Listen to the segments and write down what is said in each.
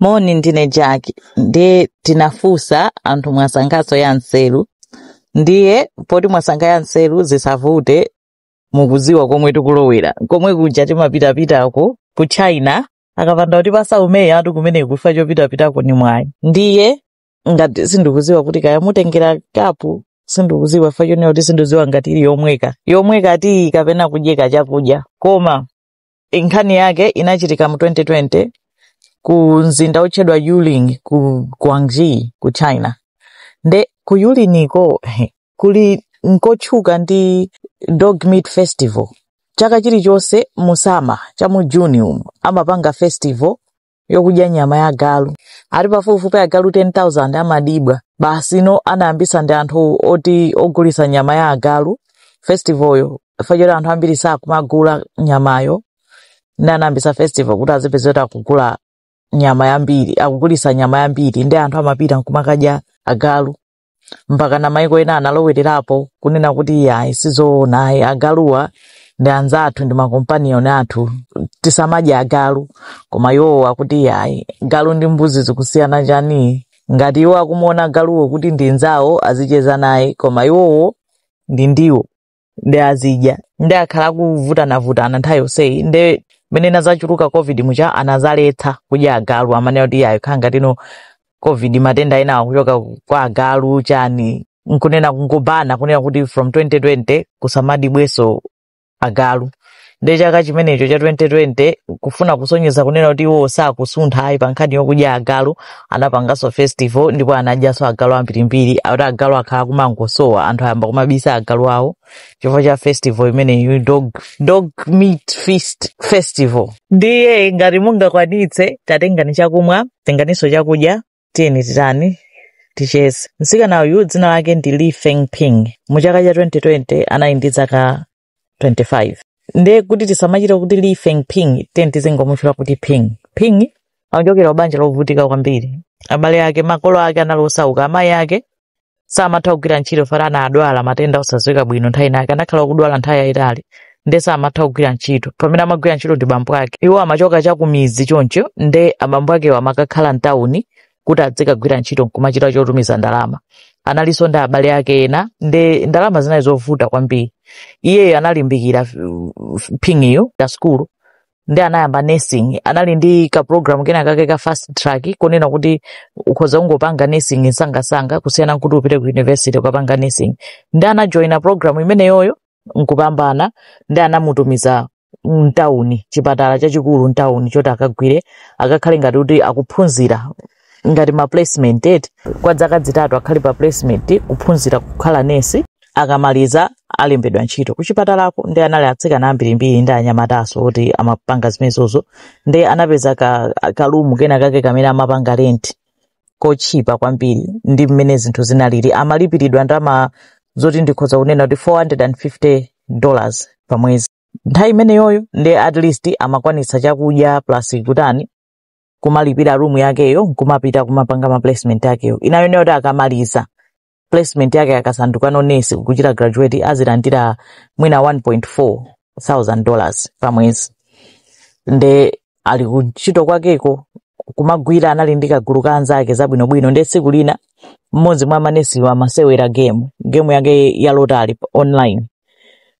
Moni ndine Jack ndiye tinafunsa anthu mwasankhaso ya nseru ndiye poti mwasankha ya nseru zisavute mukuziwa komwe tikulowera komwe kuja timapitapitaku ku China akapanda kuti pasaumeyi atu kumene kufa chopitapitako ni mwayi ndiye ngati sindikuziwa kuti kaya mutengera kapu sindikuziwa chifa chonena kuti sindiziwa ngati ili yomweka yomweka tiyi kapena yodyeka chakudya koma nkhani yake inachitika mu 2020 ku mzinda wotchedwa yulin ku guangxi ku china nde ku yuliniko kuli nkotchuka ndi dog meat festival chaka chilichonse musama cha mu June umu amapanga festival yokudya nyama ya galu ati pafupifupi agalu 10000 amadibwa basino anayambisa ndi anthu oti ogulisa nyama ya agalu festivalyo fachoti anthu ambiri sakumagula nyamayo ndi anayambisa festival kuti azipezeka akugula nyama yambiri akugulisa nyama yambiri nde anthu amapita nkumakadya agalu mpaka na maiko ena analowererapo kunena kuti iyayi sizoona ayi agaluwa ndi anzathu ndi ma companion athu tisamadye agalu koma iwowo akuti iyayi galu ndi mbuzi zikusiyana chani ngati iwo akumuona galuwo kuti ndi nzawo azicheza naye koma iwowo ndi ndiwo nde azidya nde akhala akuvutanavutana nthawi yonseyi nde mene inazachuluka covid mucha anazaletsa kudya agalu amanena kuti iyayi ikhala ngatino covid matenda ena akuchoka kwa agalu chani nkunena kungobana kunena kuti from 2020 kusamadibweso agalu nde chaka chimenecho cha 2020 kufuna kusonyeza kunena kuti iwo sakusuntha ayi pa nkhani yokudya agalu anapanganso festival ndipo anadyanso agalu ambirimbiri akuti agalu akhala akumangosowa anthu ayamba kumabisa agalu awo chifukwa cha festival imeneyi dog, dog meat feast festival ndiye ngati mungakwanitse tatengani chakumwa tenganinso chakudya tiyeni titani ticheze mtsikana uyu dzina lake ndi li feng ping mu chaka cha 2020 anali ndi zaka 25 ndiye kuti tisamachita kuti li feng ping tizingomutchula kuti ping ping akuchokera kubanja lovutika kwambiri abale ake makolo ake anali osauka amayi ake samatha kugwira ntchito chifana anadwala matenda osadziwika bwino nthawi inake anakhala akudwala nthawi yayitali nde samatha kugwira ntchito amene amagwira ntchito ndi bambo ake iwo amachoka chakumidzi choncho nde abambo akewo amakakhala mtawuni kuti adzikagwira ntchito nkumachita chotumiza ndalama analinso ndi abale ake ena nde ndalama zinali zovuta kwambiri iyeyo analimbikira f- f- ping'iyo za sukulu nde anayamba nursing anali ndi ka program kena kake ka fast track kunena kuti ukhoza kungopanga nursing nsangasanga kusiyana nkuti upite ku university ukapange nursing nde anajoina program imeneyoyo nkupambana ndi anamutumiza mtawuni chipatala chachikulu mtawuni choti akagwire akakhale ngati kuti akuphunzira ngati ma placement eti kwa zaka zitatu akhale pa placement kuphunzira kukhala nesi akamaliza alembedwa ntchito kuchipatalako nde anali atsikana ambirimbiri ndi anyamataso oti amapanga zimenezozo nde anapeza ka, kalumu kena kake kamene amapanga renti kotchipa kwambiri ndi mmene zinthu zinalili amalipiridwa ndalama zoti ndikhoza kunena kuti 450 dollars pa mwezi nthawi imeneyoyo nde at least amakwanitsa chakudya plus kutani kumalipira room yakeyo nkumapita kumapanga ma placement akeyo inayo kuti akamaliza placement yake akasandukano nesi kuchita graduate azilandira mwina 1.4 thousand dollars pa mwezi nde ali kuntchito kwakeko kumagwira anali ndi kagulu ka anzake zabwinobwino nde tsiku lina mmodzi mwa manesiwa amasewera game game yake ya lotari online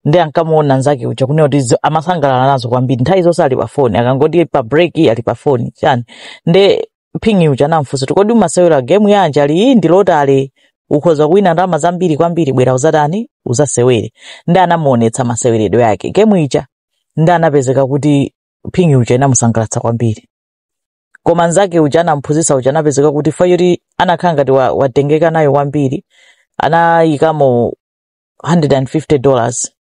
nde ankamuona nzake uja kunena kuti zo- amasangalala nazo kwambiri nthawi zonse ali pa foni akangoti pa break ali pa foni chani nde phingi uja anamfunsa kuti kodi umasewera gemu yanji ali iyi ndi lotale ukhoza kuwina ndalama zambiri kwambiri bwera uzatani uzasewere nde anamuonetsa maseweredwe ake gemu ija nde anapezeka kuti phingi uja inamusangalatsa kwambiri koma nzake uja anamphunzitsa uja anapezeka kuti fa yoti anakhala ngati wa- watengeka nayo kwambiri anayikamo 150 dollars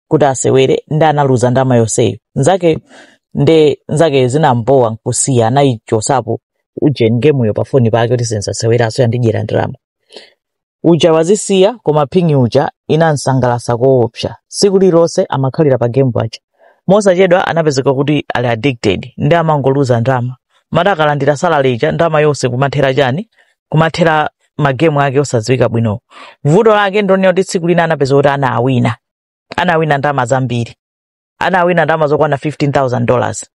kuti asewere nde analuza ndama yonseyo nzake nde nzake zinambowa nkusiya anayichosapo ujeni gemuyo pafoni pake kuti sinzaseweranso yandidyera ndalama uja wazisiya koma phingi uja inamsangalasa koopsa siku lilonse amakhalira pa game paja mosachedwa anapezeka kuti ali addicted nde amangoluza ndalama moti akalandira salary ija ndalama yonse kumathera chani kumathera magemu ake osadziwika bwino vuto lake ndonena kuti tsiku lina anapeza kuti anawina anawina ndalama zambiri anawina ndalama zokwana 15000 dollars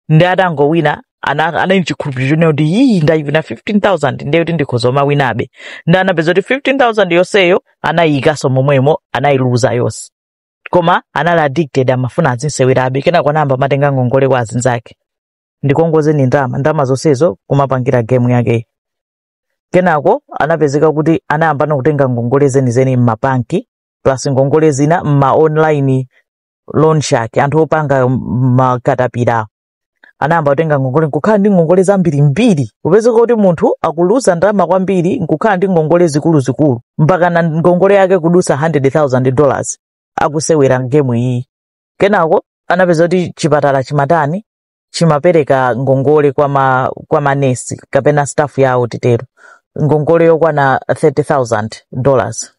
nde atangowina ana- anali ndi chikhulupiriro chonena kuti iyi ndayiwina 15000 ndiye kuti ndikhoza kumawinabe nde anapeza kuti 15000 yonseyo anayiyikanso momwemo anayiluza yonse koma anali addicted amafuna azisewerabe kenako anayamba matenga ngongole kwa azinzake ndikongozeni ndalama ndalama zonsezo kumapangira gemu yakeyi kenako anapezeka kuti anayambano kutenga ngongole zenizeni m'mabanki plus ngongole zina m'ma online loan shark anthu opanga makatapira anayamba kutenga ngongole nkukhala ndi ngongole zambirimbiri kupezeka kuti munthu akuluza ndalama kwambiri nkukhala ndi ngongole zikuluzikulu mpakana ngongole yake kudusa 100,000 dollars akusewera gemu iyi kenako anapeza kuti chipatala chimatani chimapereka ngongole kwa ma kwa manesi kapena staff yawo titero ngongole yokwana 30000 dollars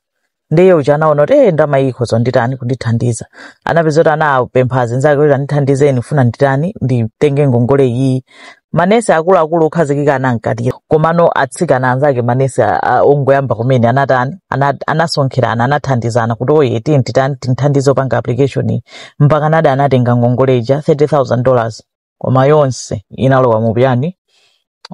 ndiye uja anaona kuti eh ndama iyi khozo nditani kundithandiza anapeza kuti anapempha azinzake kuti andithandizeni ndifuna nditani nditenge ngongole iyi manesi akuluakulu okhazikika anamukanira komano atsikana anzake manesi a- a- ongoyamba kumene anatani Ana- anasonkherana anathandizana kuti iye tiyeni titani tinthandize kupanga application iyi mpaka nayedi anatenga ngongole ija 30000 dollars koma yonse inalowa mu chani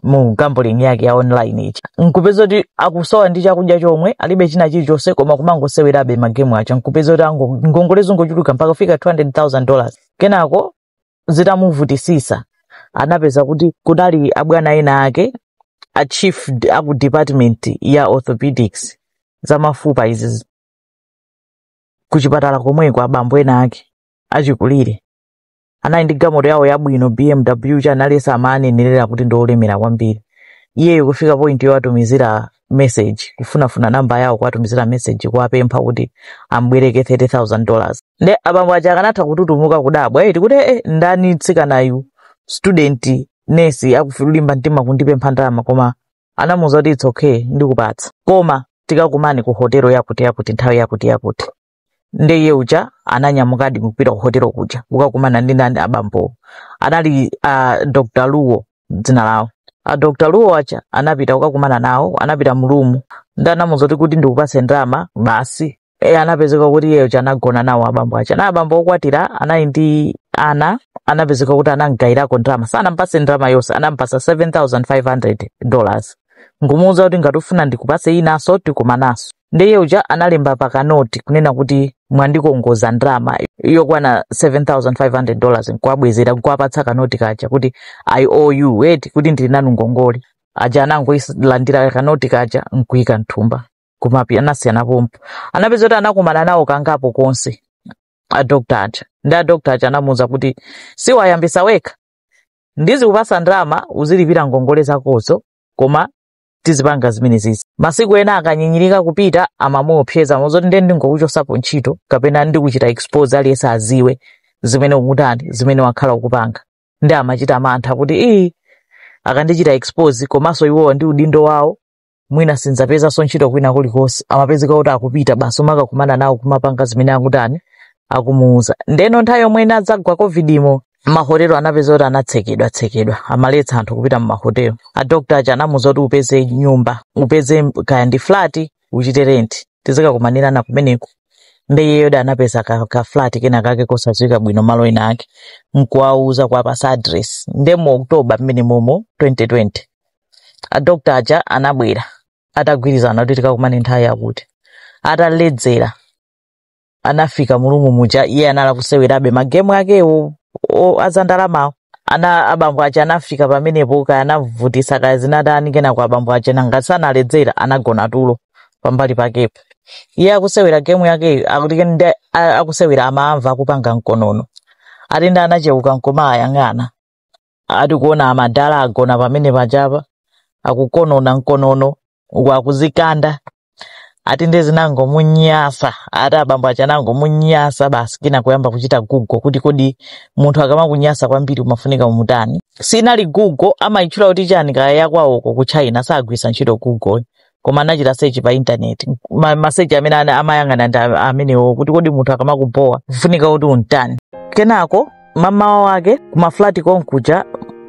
mu gambling yake ya online ija nkupeza kuti akusowa ndi chakudya chomwe alibe china chilichonse koma kumangosewerabe magemu aja nkupeza kuti ango- ngongole zingochuluka mpaka kufika 200000 dollars kenako zitamuvutisisa anapeza kuti kunali abwana ena ake a chief d- aku department ya orthopedics za mafupa izi ku chipatala komweko abambo ena ake achikulire anali ndi gamoto yawo yabwino bmw chani anthu amawanenera kuti ndi olemera kwambiri iyeyo kufika point yowatumizira message kufunafuna namba yawo kuwatumizira message kuwapempha kuti ambwereke 30000 dollars nde abambo aja akanatha kututumuka kudabwa eti kuti eh, ndani tsikanayu student nesi akulimba mtima kundipempha ndalama koma anamuuza kuti it's okay ndikupatsa koma tikakumane ku hotelo yakuti yakuti nthawi yakuti yakuti nde iye uja ananyamukadi kupita ku hotelo kuja kukakumana ndi ndani abambowo anali uh, dr luwo dzina lawo a dr luwo aja anapita kukakumana nawo anapita mu room nde anamuuza kuti kuti ndikupatse ndalama basi e, anapezeka kuti iye uja anagona nawo abambo aja anali abambo okwatira anali ndi ana anapezeka kuti anamgayirako ndalama sanampase ndalama yonse anampasa 7500 dollars nkumuuza kuti ngati ufuna ndikupase inanso tikumananso ndiye uja analemba pakanoti kunena kuti mwandikongoza ndalama yokwana 7500 dollars nkuwabwezera nkuwapatsa kanoti kaja kuti i owe you eti kuti ndili nanu ngongole aja anangoilandira kanoti kaja nkuika mthumba kumapi anasiyana pompo anapeza kuti anakumana nawo kangapo konse adokta aja nde adokta aja anamuuza kuti siwayambisa wekha ndizikupasa ndalama uzilipira ngongole zakozo koma tizipanga zimenezizi masiku ena akanyinyirika kupita amamuopseza muziti ndiye ndingokuchosapo ntchito kapena ndikuchita expose aliyense aziwe zimene ukutani zimene wakhala ukupanga nde amachita mantha kuti ii akandichita expose komanso iwowa ndi udindo wawo mwina sindzapezanso ntchito kwina kulikonse amapezeka kuti akupita basi kumakakumana nawo kumapanga zimene akutani akumuuza ndeno nthawi yomwe inadzagwa covid imo mahotelo anapeza kuti anatsekedwa tsekedwa amaletsa anthu kupita mumahotelo adokta aja anamuuza kuti upeze nyumba upeze kaya ndi flati uchite renti tizikakumanirana kumeneko nde iyeyo anapeza ka, ka flat kena kake kosadziwika bwino malo ena ake nkuwauza kuwapasa address nde mu oktoba mmene momo 2020 adokta aja anabwera atagwirizana kuti tikakumane nthawi yakuti ataledzera anafika mulumu muja iye anali akusewerabe magemu akewo o- azandalamawo ana abambo aja anafika pamenepo kaya anavutisa kaya zinatani kenako abambo aja nanga si analedzera anagona tulo pambali pakepo iye akusewera gemu yakeyo akuti ndi a- akusewera amamva akupanga mkonono ati nde anacheuka nkumawayang'ana ati kuona amadala agona pamene pajapa akukonona mkonono uku akuzikanda ati nde zinangomunyasa ati abambo aja anangomunyasa basi kenako kuyamba kuchita google kuti kodi munthu akamakunyasa kwambiri umafunika umutani sinali google amayitchula kuti chani kaya yakwawoko ku china sagwisa ntchito google koma anachita search pa internet ma, ma search amene ana- amayang'ana ndi a- amenewo kuti kodi munthu akamakubowa kufunika kuti untani kenako mamawa wake kumaflati konkuja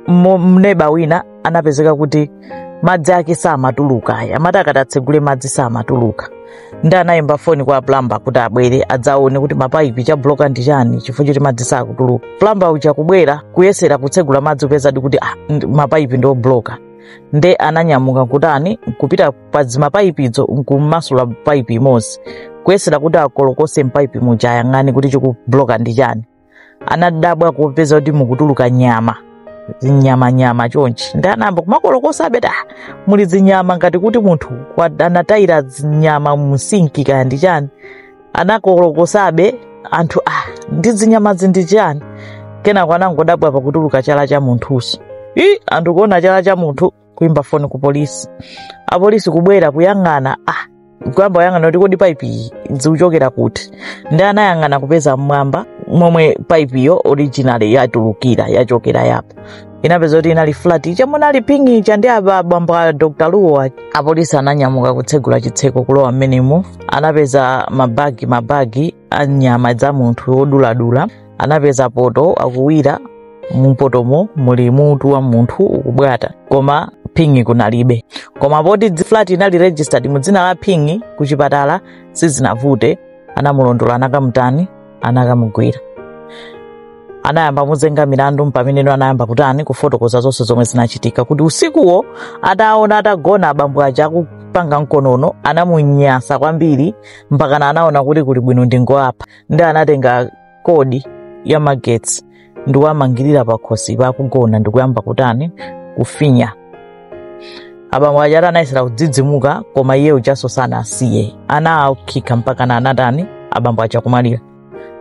mo- mneba wina anapezeka kuti madzi ake samatuluka ayi amati akati atsegule madzi samatuluka nde anayimba foni kwa plamba kuti abwere adzaone kuti mapaipi chabloka ndi chani chifukwa choti madzi sakutuluka plamba uja kubwera kuyesera kutsegula madzi kupezadi kuti ah, ndi- mapaipi ndi obloka nde ananyamuka kutani kupita pa zimapaipizo nkumasula paipi imodzi kuyesera kuti akolokose mpaipi muja ayang'ane kuti chikubloka ndi chani anadabwa kupeza kuti mukutuluka nyama zinyamanyama chonchi nde anayamba kumakolokosa abeta muli zinyama ngati kuti munthu wa- anatayira zinyama msinki kaya ndi chani anakolokosabe anthu ah ndi zinyamazi ndi chiyani kenako anangodabwa pakutuluka chala cha munthuso i anthu kuona chala cha munthu kuimba foni ku polisi apolisi kubwera kuyang'ana ah kuyamba kuyang'ana kuti kodi paipi iyi zikuchokera kuti nde anayang'ana kupeza mmwamba momwe paipiyo originally yatulukira yachokera yapo anapeza kuti inali flat ija munali ping'i uja ndi abambo a dr luwo aja apolisi ananyamuka kutsegula chitseko kulowa mmenemo anapeza mabagi mabagi a nyama za munthu woduladula anapeza poto akuwira mupotomo muli mutu wa munthu ukubwata koma ping'i kunalibe koma poti dzi- flat inali registered mu dzina la ping'i ku chipatala sizinavute anamulondola anakamutani anakamugwira anayamba muzenga milandu mpamene anayamba kutani kufotokoza zonse zomwe zinachitika kuti usikuwo ataona atagona abambo aja akupanga mkonono anamunyasa kwambiri mpakana anaona kuti kuli bwino ndingowapha ndi anatenga kodi ya magetsi ndikuwamangirira pakhosi akugona ndikuyamba kutani kufinya abambo aja ati anayesera kudzidzimuka koma iye ujanso sanasiye anawakhikha mpakana anatani abambo aja kumalira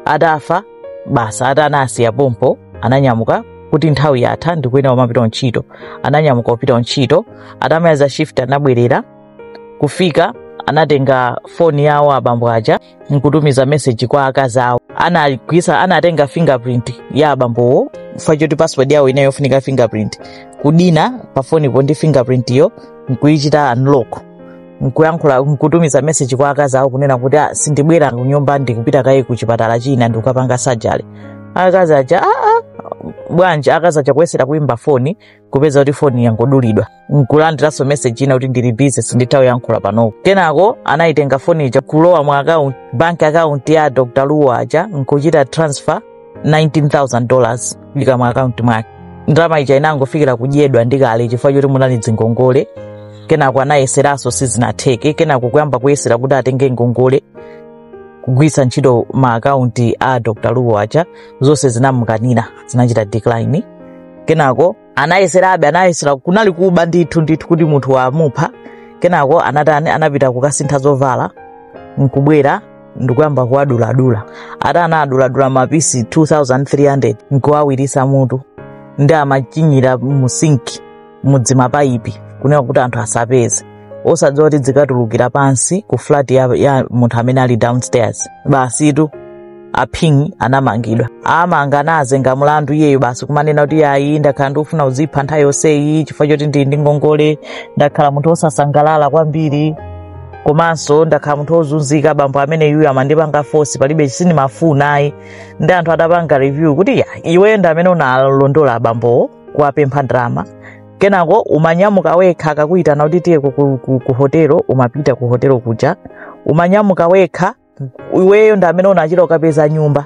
atafa basi ati anasiya pompo ananyamuka kuti nthawi yatha ndikuyenera kumapita ntchito ananyamuka kupita ntchito atamaliza shift anabwerera kufika anatenga foni yawo abambo aja nkutumiza meseji kwa akazi awo anagwisa anatenga fingerprint ya abambowo chifukwa choti password yawo inali yofunika fingerprint kudina pafonipo ndi fingerprint yo nkuyichita unlock nkuyankhula nkutumiza meseji kwa akazi awo kunena kuti "Ah, sindibwera kunyumba ndikupita kaye ku chipatala china ndikukapanga sajali akazi aja aa bwanji akazi aja kuyesera kuyimba foni kupeza kuti foni yangodulidwa nkulandiranso meseji ina kuti ndili bize sinditha kuyankhula panopo kenako anayitenga foni ija kulowa mu akaunti banki akaunti ya dr luo aja nkuchita transfer 19000 dollars kuyika mu akaunti mwake ndalama ija inangofikira kudyedwa ndi kale kale chifukwa choti munali dzingongole kenako anayeseranso sizinatheke kenako kuyamba kuyesera kuti atenge ngongole kugwiritsa ntchito ma akaunti a dr luo aja zonse zinamukanira zinachita decline kenako anayeserabe anayesera kunali kuba ndithu ndithu kuti munthu wamupha kenako anatani anapita kukasintha zovala nkubwera ndikuyamba kuwaduladula ati anaduladula mapisi 2300 nkuwawiritsa mutu ndi amachinyira mu sinki mudzimapaipi kunena kuti anthu asapeze osadziwa kuti zikatulukira pansi ku flat ya, ya munthu amene ali downstairs basitu aphingi anamangidwa atamanga anazenga mlandu iyeyo basi kumanena kuti ayi ndakhala ndikufuna kudzipha nthawi yonseyi chifukwa choti ndili ndi ngongole ndakhala munthu wosasangalala kwambiri komanso ndakhala munthu wozunzika bambo amene yuyu amandipanga fosi palibe sindimafuna ayi ndi anthu adapanga review kuti ya iwe ndi amene unalondola abambowo kuwapempha ndalama kenako umanyamuka wekha akakuyitana kuti tiye ku, ku, ku, ku hotelo umapita ku hotelo kuja umanyamuka wekha iweyo ndi amene unachita kukapeza nyumba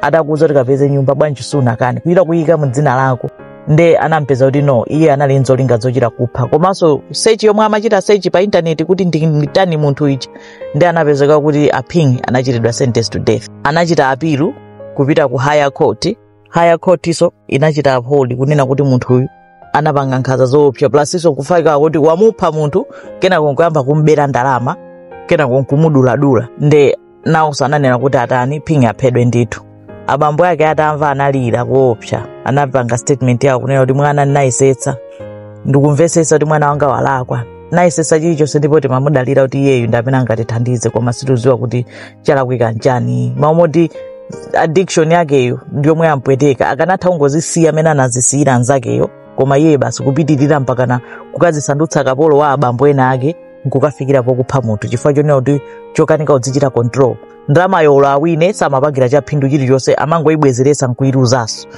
atakuuza kuti kapeze nyumba bwanji sunakane kuchita kuyika mu dzina lako nde anampeza kuti no iye anali nzolinga zochita kupha komanso sechi yomwe amachita sechi pa intaneti kuti nditani munthu ichi nde anapezeka kuti aphingi anachitidwa sentence to death anachita apilu kupita ku higher court higher court iso inachita uphold kunena kuti munthuyu anapanga nkhanza zoopsa plus iso kufika kuti wamupha munthu kenako nkuyamba kumbera ndalama kenako nkumuduladula nde nawonso ananena kuti atani Fengping aphedwe ndithu abambo ake atamva analira koopsa anapanga statement yawo kunena kuti mwana ndinayesetsa ndikumvesetsa kuti mwana wanga walakwa nayesetsa chilichonse ndipo timamudalira kuti iyeyu ndi amene angatithandize koma situziwa kuti chalakwika nchani mawu moti addiction yakeyo ndiyomwe yampweteka akanatha kungozisiya amene anazisiyira anzakeyo koma iye basi kupitirira mpakana kukazisandutsa kapolo wa abambo ena ake nkukafikira pokupha munthu chifukwa chonena kuti chokanika kudzichita control ndalamayo olo awine samapangira cha phindu chilichonse amangoyibwezeretsa nkuyiluzaso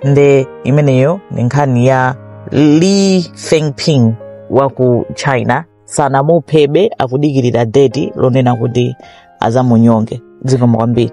nde imeneyo ni nkhani ya li fengping wa ku china sanamuphebe akudikirira date lonena kuti azamunyonge zikomo kwambiri